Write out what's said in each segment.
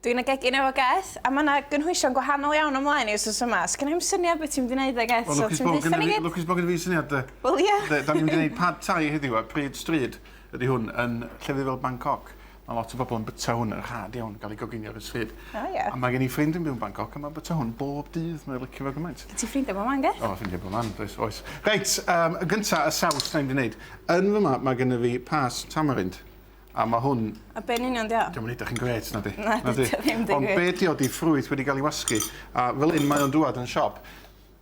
Dwi'n y gegin efo Geth, a ma' 'na gynhwysion gwahanol iawn ymlaen i wsos yma. Sgenna i'm syniad be' ti'n mynd i neud 'da Geth, so ti'n deutha ni gyd? Wel lwcus bo' gynno fi lwcus bo' gynno fi syniad 'de. Wel ia. 'De, 'dan ni'n mynd i neud pad thai heddiw a pryd stryd ydi hwn yn llefydd fel Bangkok. Ma' lot o bobol yn byta hwn yn rhad iawn, ga'l 'i goginio ar y stryd. O ia. A ma' gen i ffrind yn byw yn Bangkok a ma'n byta hwn bob dydd, mae o licio fo gymaint. Gen ti ffrindie bob man Geth? O ffrindie bob man does, oes. Reit, yym yn gynta y saws 'dan ni mynd i neud. Yn fyma ma' gynno fi past tamarind. A ma' hwn... A be' yn union 'di o? 'Di o'm yn edrych yn grêt nadi? Na 'di o ddim dim grêt. Ond be' 'di o 'di ffrwyth wedi ga'l 'i wasgu a fel 'yn mae o'n dŵad yn siop.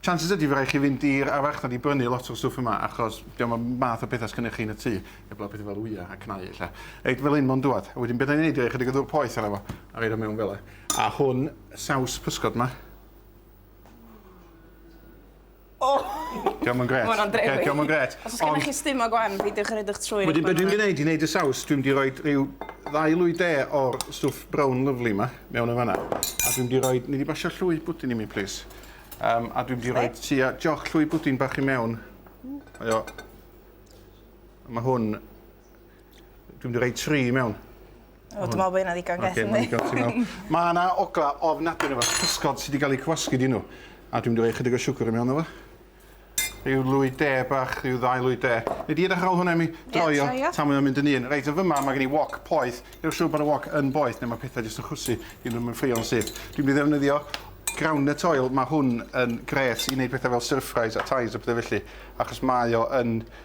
Chances ydi fy' rai' chi fynd i'r ar farchnad i brynu lot o'r stwff yma achos 'di o'm y math o petha sgennych chi yn y tŷ heblaw petha fel wya a cnau ella. Reit fel 'yn ma' o'n dŵad a wedyn be' 'dan ni'n neud yw roi chydig o ddŵr poeth arno fo a roid o mewn fel 'a. A hwn saws pysgod 'ma. O! Dio'm yn grêt. Ma' wnna'n drewi. Oce, dio'm yn grêt. Os o's gennych Ond- chi stum o gwan peidiwch â roid eich trwyn i Wedyn be' dwi'n mynd i neud i neud y saws dwi'n mynd i roid rhyw ddau lwy de o'r stwff brown lyfli 'ma mewn yn fan 'na a dwi'n mynd i roid nei di basio llwy bwdin i mi plîs? Yym a dwi'n mynd i roid tua joc llwy bwdin bach i mewn. Ww. Mae o... A ma' hwn Dwi'n mynd i roi tri mewn. O, dwi'n meddwl bod hynna ddigon gell yndi? Oce, ti'n meddwl. Mae yna ogla ofnadwy yna fo, cysgod sydd wedi cael eu cywasgu di nhw. A dwi'n mynd i roi chydig o siwgr i mewn yma. Rhyw lwy de bach, rhyw ddau lwy de. Neu di edrych ar ôl hwnna mi droio tan mae'n mynd yn un. Reit, yn fyma mae gen i wok poeth. Neu siŵr bod y wok yn boeth neu mae pethau jyst yn chwysu i ddim yn ffrio'n syth. Dwi'n mynd i ddefnyddio groundnut oil. Mae hwn yn gret i wneud pethau fel stir fries a ties a pethau felly. Achos mae o yn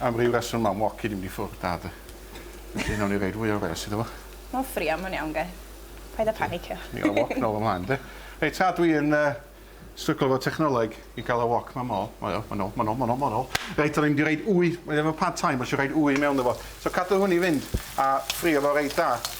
Am ryw reswm mam Woki di mynd i ffwrdd da de. Felly nawn ni roid fwy o wres iddo fo. Ma'n ffrio ma'n iawn guys. Paid a panicio. Ni ga'l wok nôl ymlaen de. Reit ta dwi yn yy stryglo efo technoleg i ga'l y wok ma mol. O iawn ma'n nôl ma'n nôl ma'n nôl ma'n nôl. Reit o'n i mynd i roid wy mae efo pad thai ma' isio roid wy mewn iddo fo. So cadw hwn i fynd a ffrio fo reit da.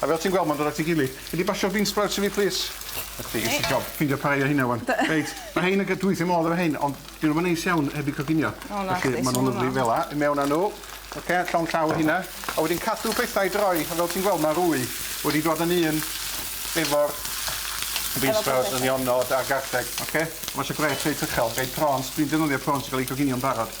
A fel ti'n gweld ma'n dod at ei gilydd. Gei di basio'r bean sprouts i fi plîs? Na ti isie job ffindio rhai o rheina ŵan. Be? Reit ma' rhein yn ga'l dwys i'm modd efo rhein ond dyw nw'm yn neis iawn heb eu coginio. O na chdi. Felly ma' nw'n lyfli fel 'a. I mewn â n'w. Oce llond llaw o rheina. A wedyn cadw pethau i droi a fel ti'n gweld ma' rwy wedi dod â ni un efo'r bean sprouts a nionod a garlleg oce? Ma' isio gwres reit uchel. Gai prawns dwi'n defnyddio prawns sy ga'l eu coginio'n barod.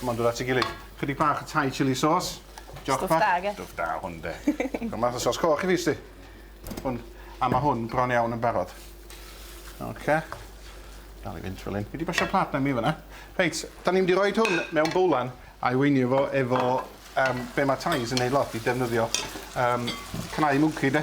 Come on, dod at ei gilydd. Chydig bach o Thai chili sauce. Stwff da, ge? Stwff da hwn, de. Rhoi math o sos coch i fi, sti. Hwn. A mae hwn bron iawn yn barod. Oce. Dal i fynd fel un. Fi wedi basio plat na mi fyna. Reit, da ni'n mynd i roi hwn mewn bowlan a i weinio fo efo um, be mae Thais yn neud lot i defnyddio um, cnau mwci, de.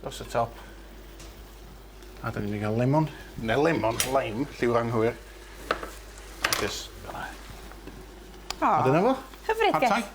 Dros y top. A da ni'n mynd i gael lemon, neu lemon, lime, lliw'r anghywir. Just fel na. A dyna fo. Hyfryd, Gest.